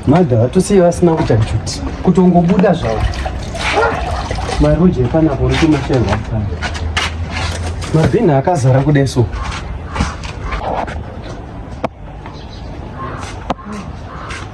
madha vatosiye vasina kuita juti kutongobuda zvavo maroji epanapo uri kumashairwa kufana mabhinha akazara kudai so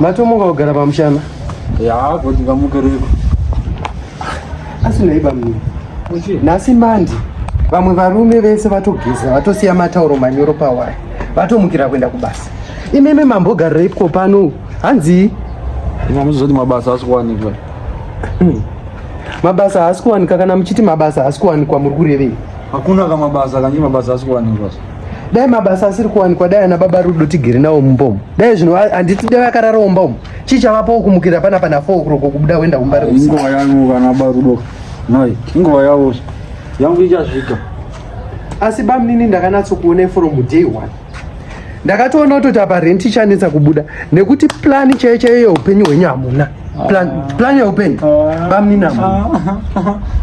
matomuka kugara pamushana yaakoti vamukereko asi nei bamni nhasi mandi vamwe varume vese vatogeza vatosiya matauro manyoro pawaya vatomukira kuenda kubasa imimi mambogarireipwo pano hanzii mamuzoti mabasa asikuwanikwa hmm. Mabasa haasi kuwanika kana muchiti mabasa haasi kuwanikwa muri kurevei? Hakuna ka mabasa kanyi mabasa haasi kuwanikwa. Dai mabasa asiri kuwanikwa dai ana baba Rudo tigere nawo mumbomo. Dai zvino handiti dai akarara umbomo. Chii chavapo kumukira pana pana 4 o'clock kubuda wenda kumba ri. Inguva yangu kana baba Rudo. Noi, inguva yavo. Yangu ichasvika. Asi bamnini ndakanatso kuona from day one. Ndakatoona kutoti apa rent ichanetsa kubuda nekuti plan chaiyo chaiyo upenyu hwenyu hamuna. Plan, plan ya upenyu bamnina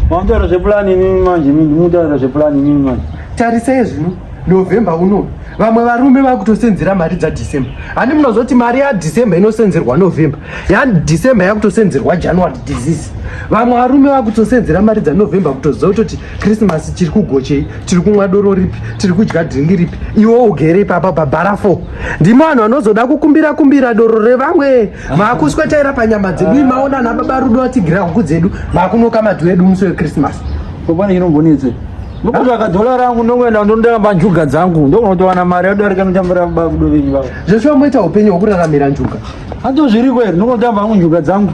mamutaura zvepulani inini manje mutaura zvepulani inini manje tarisai zvino november uno vamwe varume vakutosenzera mari dzadecember handi munozoti mari yadecember inosenzerwa november yadecember yakutosenzerwa january disease vamwe varume vakutosenzera mari dzanovember kutoziva kutoti krismas tiri kugochei tiri kumwa doro ripi tiri kudya dringi ripi iwo ugere ipapa pabhara fo ndimo vanhu vanozoda kukumbira kumbira doro revamwe maakuswetaira panyama dzedu imaona ana baba rudo atigira huku dzedu maakunoka madhu edu musi wekrismasi popana chinombonetse ndokutsvaga dhola rangu ndongoenda ndondiramba njuga dzangu ndokunotowana mari yadarika notambira baba rudo venyu vavo zveshuwa moita upenyu hwekuraramira njuga hanzo zviriko here ndonotamba hangu njuga dzangu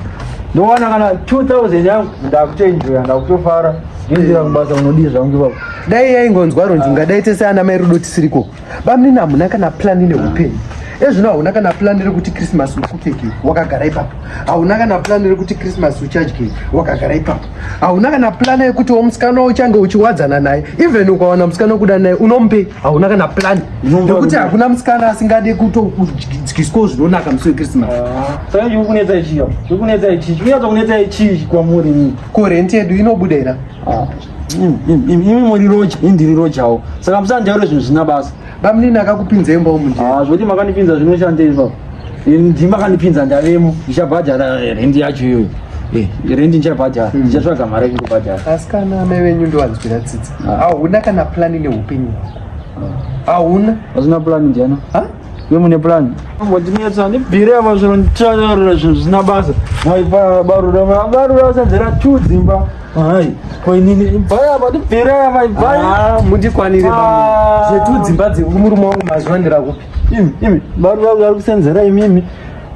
ndowana kana 2000 yangu ndakutoenjoya ndakutofara ndoendera kubasa unodii zvangu ivavo dai yaingonzwa ronjunga dai tese ana mai rudo tisiriko Bamnini hamuna kana plani neupenyu ezvino hauna kana plani rekuti krismas ukupfeke wakagara ipapo hauna kana plani rekuti krismas uchadye wakagara ipapo hauna kana plani yekuti wo musikana uchange uchiwadzana naye even ukawana musikana wekuda naye unomupe hauna kana plani nekuti hakuna musikana asingade kutodyiswawo zvinonaka musi wekrismas ah, saka chikunetsa chii chikunetsa chii chikunetsa kunetsa chii kwamuri ko renti yedu inobuda ira ah. imi muri roja ini ndiri rojawo saka musandaure zvinhu zvina basa bamunini akakupinza imba umu nje ah, zvoti makanipinza zvinoshandei ipapo ndima kanipinza ndavemo ndichabhadhara rendi yacho iyoyo Eh, rendi ndichabhadhara hmm. ndichatsvaga mari yekundobhadhara asi kana amai venyu ndowanzwira tsitsi ah. hauna kana plani neupenyu hauna hazvina plani ndiana Iwe mune plan? Wandinetsa ndibvire apa zviro nditaurira zvinhu zvisina basa. Hai barura barura usanzera two dzimba. Hai ko inini ibvai apa ndibvire apa ibvai. Ah mundikwanire baba. Ah. Zvetu dzimba dzemurume wangu mazuva ndira kupi? Imi imi barura kusenzera imimi.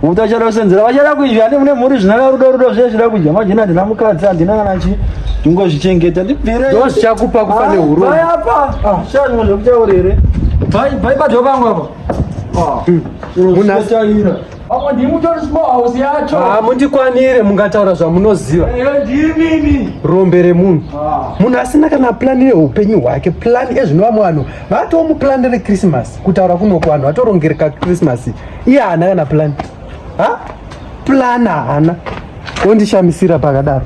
Uta achada kusenzera vachada kuizvi ane mune mhuri zvinaka rudo rudo zviye zvida kudya majina ndina mukadzi handina kana chi ndingozvichengeta ndibvire ndo zvichakupa kufa nehurume Bhai apa Ah, shangu zvekutaura here bhai bhai padyo pangu apa Ah, zviro Munhu asi- zvinotaira. Apa ndimi mutori small house yacho Ah, mundikwanire mungataura zvamunoziva Ehe, ndimini rombe remunhu munhu asina kana plani yeupenyu hwake plani ezvinova mwanhu vatoo muplani rekrisimasi kutaura kunoko vanhu vatorongereka krisimasi iye haana kana plan ha plan haana wondishamisira pakadaro